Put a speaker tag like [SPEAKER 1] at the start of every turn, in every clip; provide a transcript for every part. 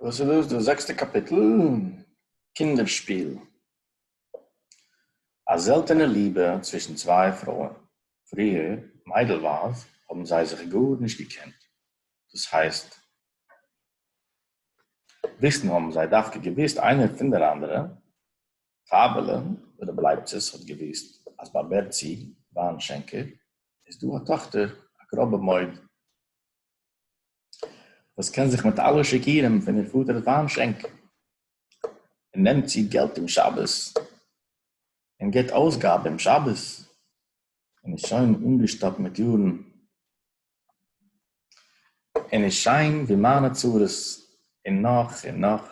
[SPEAKER 1] וואס איז דאס דא? זעקסטע קאפיטל? קינדער שפיל. א זעלטענע ליבע צווישן צוויי פרויען. פריער, מיידלווייז, האבן זיי זיך גארנישט געקענט. דאס הייסט, וויסן האבן זיי דווקא געוואוסט איינער פון דער אנדערע, פאבעלע, ווען רבי לייבצעס האט געוואוסט אז ביי בערצי וויין שענקער איז דא א טאכטער א גראבע מויד וואס קען זיך מיט אלע שקרים פון איר פאטער'ס וויין שענק און נעמט צו געלט אום שבת און גיט אויסגאבע אום שבת און איז שוין אנגעשטאפט מיט יארן און איז שיין ווי מיינע צרות און נאך און נאך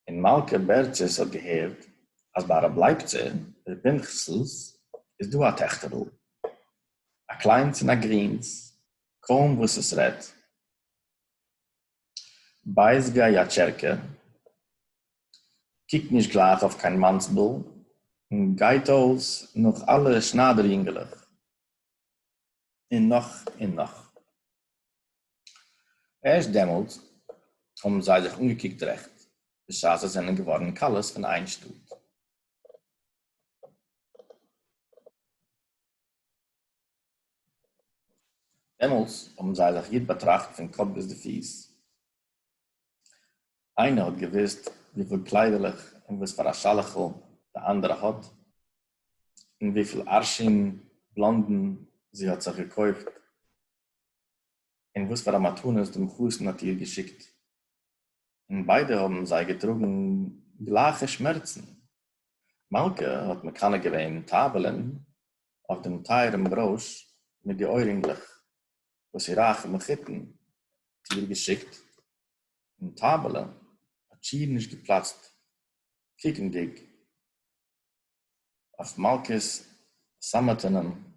[SPEAKER 1] און מלכה בערצעס האט געהערט אז ביי רב לייפצער, ר' פנחס'ל, איז דא א טעכטער'ל, א קליינס און א גרינס, קוים וואס עס רעדט בייז גיי א טשערקע, קוקט נישט גלייך אויף קיין מאנסבל, און גייט אויס נאך אלע שניידער יונגעלעך, און נאך און נאך. ערשט דעמאלט האבן זיי זיך אנגעקוקט רעכט בשעת זיי זענען געווארן כלות פון איין שטאט. דעמאלס האבן זיי זיך גוט באטראכט פון קאפ ביז די פיס, איינער האט געוואוסט וויפיל קליידעלעך און וואס פאר א שאלעכל די אנדערע האט? און וויפיל ארשין בלאנדן זי האט זיך געקויפט? און וואס פאר א מתנות דעם חתן האט איר געשיקט? און ביידע האבן זיי געטראגן גלייכע שמערצן. מלכה האט מקנא געווען טייבעלען אויף דעם טייערעם ברויש מיט די אוירינגלעך וואס איר רייכע מחותן האט איר געשיקט, און טאבעלע האט שיער נישט געפלאצט קוקנדיג אויף מלכה'ס סאמעטענעם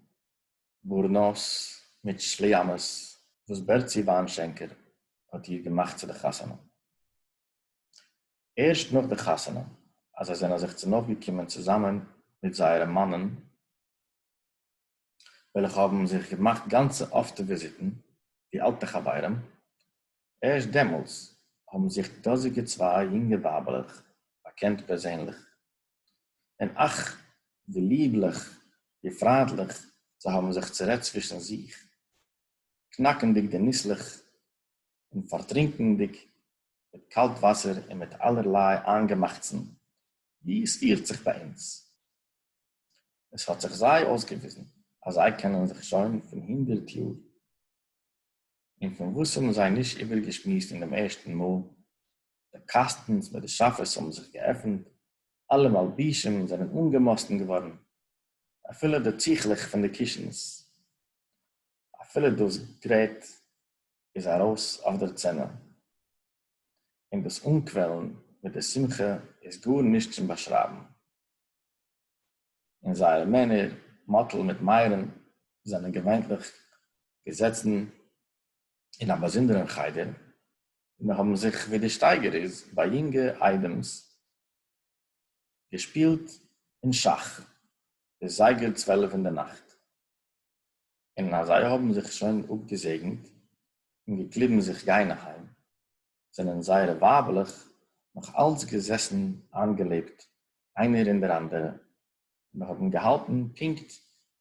[SPEAKER 1] בארנוס מיט שליאמעס וואס בערצי וויינשענקער האט איר געמאכט צו די חתונה. ערשט נאך די חתונה אז זיי זענען זיך צונויפגעקומען צוזאמען מיט זייערע מאנען, וועלכע האבן זיך געמאכט גאנצע אפטע וויזיטן ווי אלטע חברים, ערשט דעמאלס האבן זיך די דאזיגע צוויי יונגע ווייבעלעך באקענט פערזענליך, און אך! ווי ליבליך, ווי פריינטליך זיי האבן זיך צורעדט צווישן זיך, קנאקנדיג די ניסלעך און פארטרינקענדיג מיט קאלט וואסער און מיט אלערליי איינגעמאכטסן ווי עס פירט זיך ביי אונז. עס האט זיך זיי אויסגעוויזן אז זיי קענען זיך שוין פון הונדערט יאר, און פון וואס האבן זיי נישט איבערגעשמועסט אין דעם ערשטן מאל? די קאסטנס מיט די שאפעס האבן זיך געעפנט, אלע מלבישים זענען אנגעמאסטן געווארן, אפילו די טיכלעך פון די קישנס. אפילו דאס גרעט איז ארויס אויף דער צענע, און דאס אנקוועלן מיט די שמחה איז גאר נישט צום באשרייבן, און זייערע מענער, מאטל מיט מיירען, זענען געוויינטלעך געזעצן אין א באזונדערען חדר, און האבן זיך, ווי די שטייגער איז ביי יונגע איידעמס, געשפּילט אין שאַך ביז זייגער צוועלף אין דער נאַכט, און אַז זיי האָבן זיך שוין אָפּגעזעגנט און געקליבן זיך גיין אַהיים, זענען זייערע ווייבלעך נאָך אַלץ געזעסן אײַנגעלעבט איינער אין דער אַנדערע און האָבן געהאַלטן פּונקט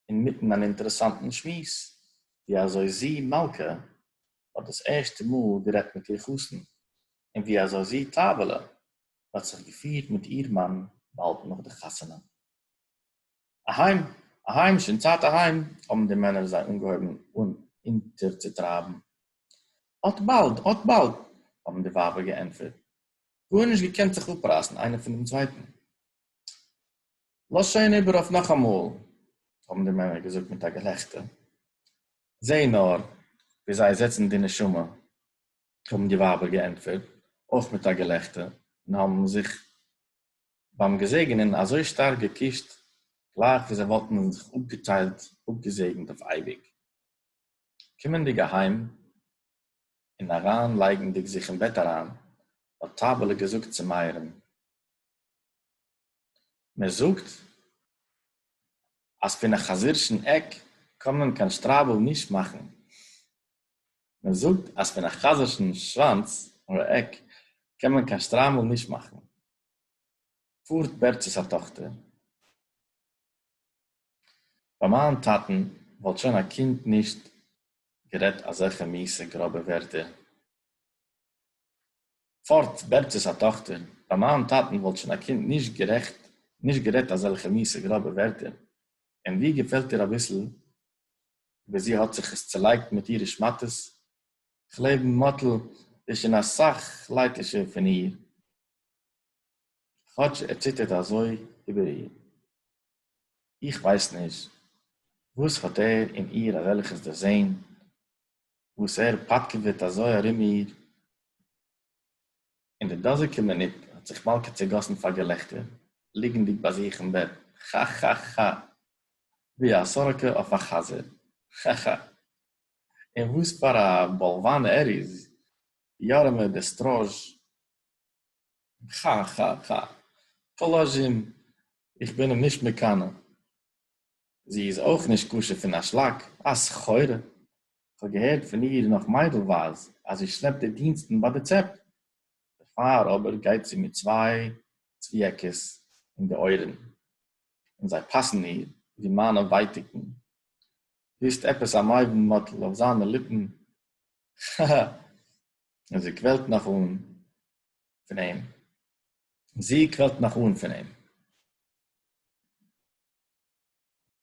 [SPEAKER 1] אין מיטן אַן אינטערעסאַנטן שמועס, ווי אַזוי זי, מלכה, האָט דאָס ערשטע מאָל גערעדט מיט איר חתן און ווי אַזוי זי, טײַבעלע, האט זיך געפירט מיט איר מאן באלד נאך די חתונה. אהיים, אהיים, שוין צייט אהיים, האבן די מענער זיי אנגעהויבן אונטערצוטרייבן. אט באלד, אט באלד, האבן די ווייבער געענטפערט, גארנישט געקענט זיך אפרייסן איינער פון דעם צווייטן. לאז שוין איבער אויף נאכאמאל, האבן די מענער געזאגט מיט א געלעכטער. זע נאר ווי זיי זעצן די נשמה, האָבן די װײַבער געענטפֿערט, אױף מיט אַ געלעכטער, און האָבן זיך בײַם געזעגענען אַזױ שטאַרק געקושט, גלײַך װי זײ װאָלטן זיך אָפּגעטײלט, אָפּגעזעגנט אױף אײביק. קומענדיק אַהײם און אַרײַן לײגנדיק זיך אין בעט אַרײַן, האָט טײַבעלע געזאָגט צו מאירן, מע זאָגט, אַז פֿון אַ חזירשן עק קאָן מען קײן שטרײַבל נישט מאַכן. מען זאגט אז פון א חזר'שן שוואנץ אדער עק קען מען קיין שטריימל נישט מאכן. פארט בערטשעס א טאכטער. ביי מיין טאטן וואלט שוין א קינד נישט גערעדט אזעלכע מיעסע גראבע ווערטער. פארט בערטשעס א טאכטער. ביי מיין טאטן וואלט שוין א קינד נישט גערעדט אזעלכע מיעסע גראבע ווערטער. און ווי געפעלט דיר אביסל ווי זי האט זיך עס צעלייגט מיט אירע שמאטעס, כ'לעב מאטל איז שוין אסאך לייטישער פון איר, כאטש ער ציטערט אזוי איבער איר. איך ווייס נישט וואס האט ער אין איר אזעלכעס דערזען וואס ער פאטקעוועט אזוי ארום איר, אין די דאָזיקע מינוט האָט זיך מאַלקע צעגאָסן פֿאַר געלעכטער, ליגנדיק בײַ זיך אין בעט, כאַ-כאַ-כאַ! װי אַ סאָראָקע אױף אַ חזיר! כאַ-כאַ! און װאָס פֿאַר אַ באָלװאַן ער איז, יאַרעמע דער סטראָזש! כאַ-כאַ-כאַ! פּאָלאָזשים, איך בין אים נישט מקנא! זי איז אויך נישט כשר פון א שלאק, א סחורה. איך האב געהערט פון איר נאך מיידלווייז אז זי שלעפט די דינסטן ביי די צעפ. דערפאר אבער גייט זי מיט צוויי צוויעקעס אין די אויערן, און זיי פאסן איר ווי מיינע ווייטיקן. וויסט עפעס א מיידן מאטל אויף זיינע ליפן, הא הא הא. און זי קוועלט נאך אן. פון אים, און זי קוועלט נאך אן פון אים.